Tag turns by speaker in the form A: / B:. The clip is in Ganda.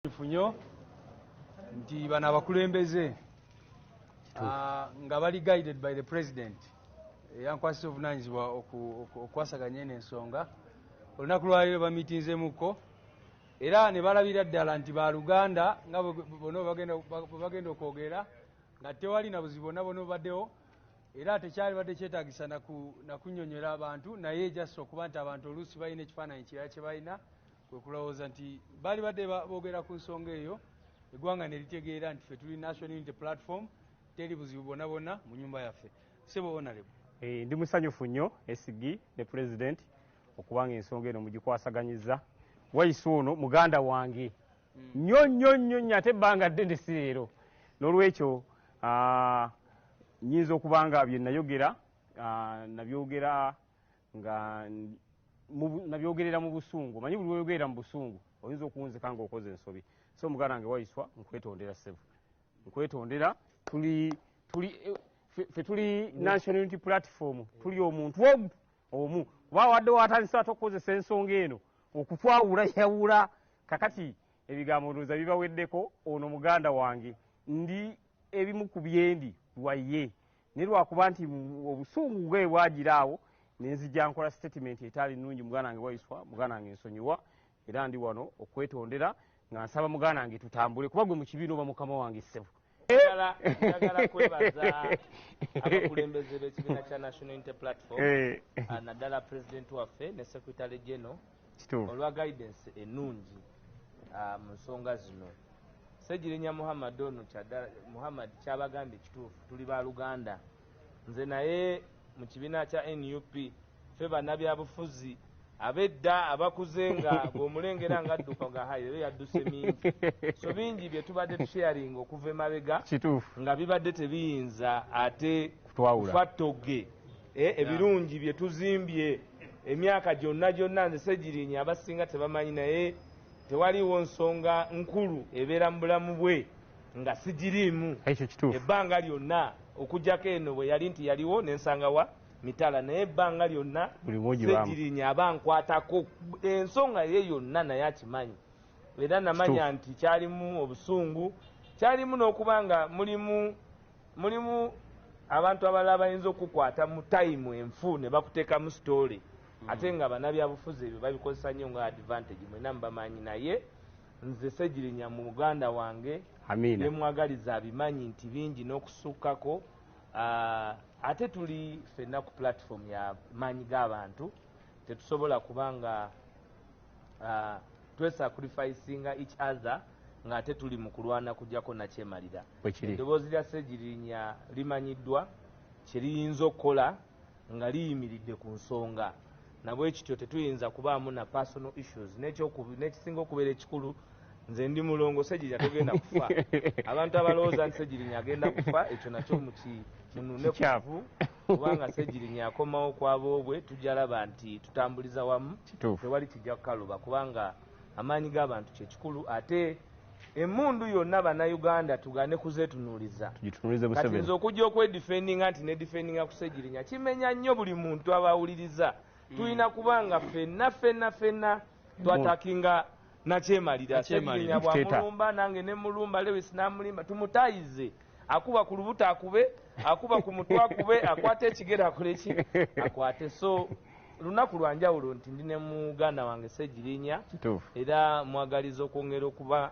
A: nfunyo nti bano abakulembeze ah, nga bali guided by the president eyankwasisa obuvunanyizibwa okukwasaganya eno ensonga olunaku lwaliro bamitinzemuko era ne balabira ddala nti baluganda nga bona bagenda okwogera nga tewali na buzibu bona bona obaddewo era tekyali badde kyetagisa nakunyonyola abantu naye jasi okuba nti abantu oluusi balina ekifaananyi kirala kye balina kwe kulowooza nti baalibadde boogera ku nsonga eyo eggwanga ne litegeera nti ffe tuli National Unity Platform teri buzibu bwonna bwonna mu nnyumba yaffe. Ssebo Honourable. Eh, ndi musanyufu
B: nnyo SG ne Pulezidenti okuba nga ensonga eno mugikwasaganyizza Waiswa ono muganda wange hmm. nnyo nnyo nnyo nnyo ate ebbanga ddene si leero n'olwekyo ah, nyinza okuba nga bye nayogera ah, nabyogera nga nabyogerera mu busungu omanyi buli weyogerera mu busungu oyinza okuwunzika nga okoze ensobi so muganda nge waiswa nkwetondera sebu nkwetondera tuli tuli fe tuli national unity platform tuli omuntu omu omu kuba wadde watandisa ate okukozesa ensonga eno okutwawula yawula kakati ebigambo ndooza bibaweddeko ono muganda wange ndi ebimu ku byendi waye naye lwakuba nti obusungu nge bwagira awo nenzija nkola statement etaali nungi muganda wange waiswa muganda wange nsonyiwa era ndi wano okwetondera nga nsaba muganda wange tutambule kuba gwe mukibiina oba mukama wange ssebo njagala kwebaza
C: abakulembeze b'ekibiina kya national unity platform eh. ah, naddala pulezidenti waffe ne secretary general olwa guidance enungi ah, mu nsonga zino segirinya muhammad ono muhammad kyabagambye kituufu tuli ba luganda nze naye mu kibiina kya nup fe banabyabufuzi abedda abakuze nga bwomulengera nga adduka nga hayi leero yadduse mingi so bingi bye tubadde tusharinga okuva emabega nga bibadde tebiyinza ate kufattoge eh, ebirungi bye tuzimbye Emyaka gyonna gyonna nze Ssegirinya abasinga tebamanyi naye tewaliwo nsonga nkulu ebeera mu bulamu bwe nga sigiriimu ebbanga lyonna okujjako eno bwe yali nti yaliwo nensanga wa mitala naye ebbanga lyonna Ssegirinya aba nkwatako ensonga ye yonna naye akimanyi era namanya nti kyalimu obusungu kyalimu n'okuba nga mulimu Mulimu abantu abalala bayinza okukukwata mu time enfu ne bakutekamu story mm. ate nga banabyabufuzi ebyo babikozesa nnyo nga advantage mwena mubamanyi naye nze segirinya mu muganda wange yemwagaliza abimanyi nti bingi n'okusukkako ah, ate tuli fenna ku platform ya maanyi g'abantu tetusobola kuba nga uh, twesacrificinga each other ng'ate tuli mu kulwana kujjako nakyemalira eddoboozi lya ssegirinya limanyiddwa kye liyinza okukola nga liyimiridde ku nsonga nabwekityo tetuyinza kubaamu na personal issues n'ekisinga okubeera ekikulu nze ndi mulongo ssegirinya togenda kufa abantu abalowooza nti ssegirinya agenda kufa ekyo nakyo muki munune kuvu kubanga segirinya akomawo kwaboobwe tujja laba nti tutambuliza wamu tewali kijja kukaluba kubanga amaanyi g'abantu kyekikulu ate emundu yonna bannayuganda tugane kuzetunuliza kati nze okujja okwedifendinga nti nedifendinga kusegirinya kimenya nnyo buli muntu abawuliriza tulina kubanga fenna fenna fenna twatakinga Nakyemalira Ssegirinya bw'amulumba nange ne mmulumba, Lewis n'amulimba. Tumutaayize. Akuba ku lubuto akube, akuba ku mutwe akube, akwata ekigere akole ki akwate. So lunaku lwa njawulo nti ndi ne muganda wange Ssegirinya era mmwagaliza okwongera okuba.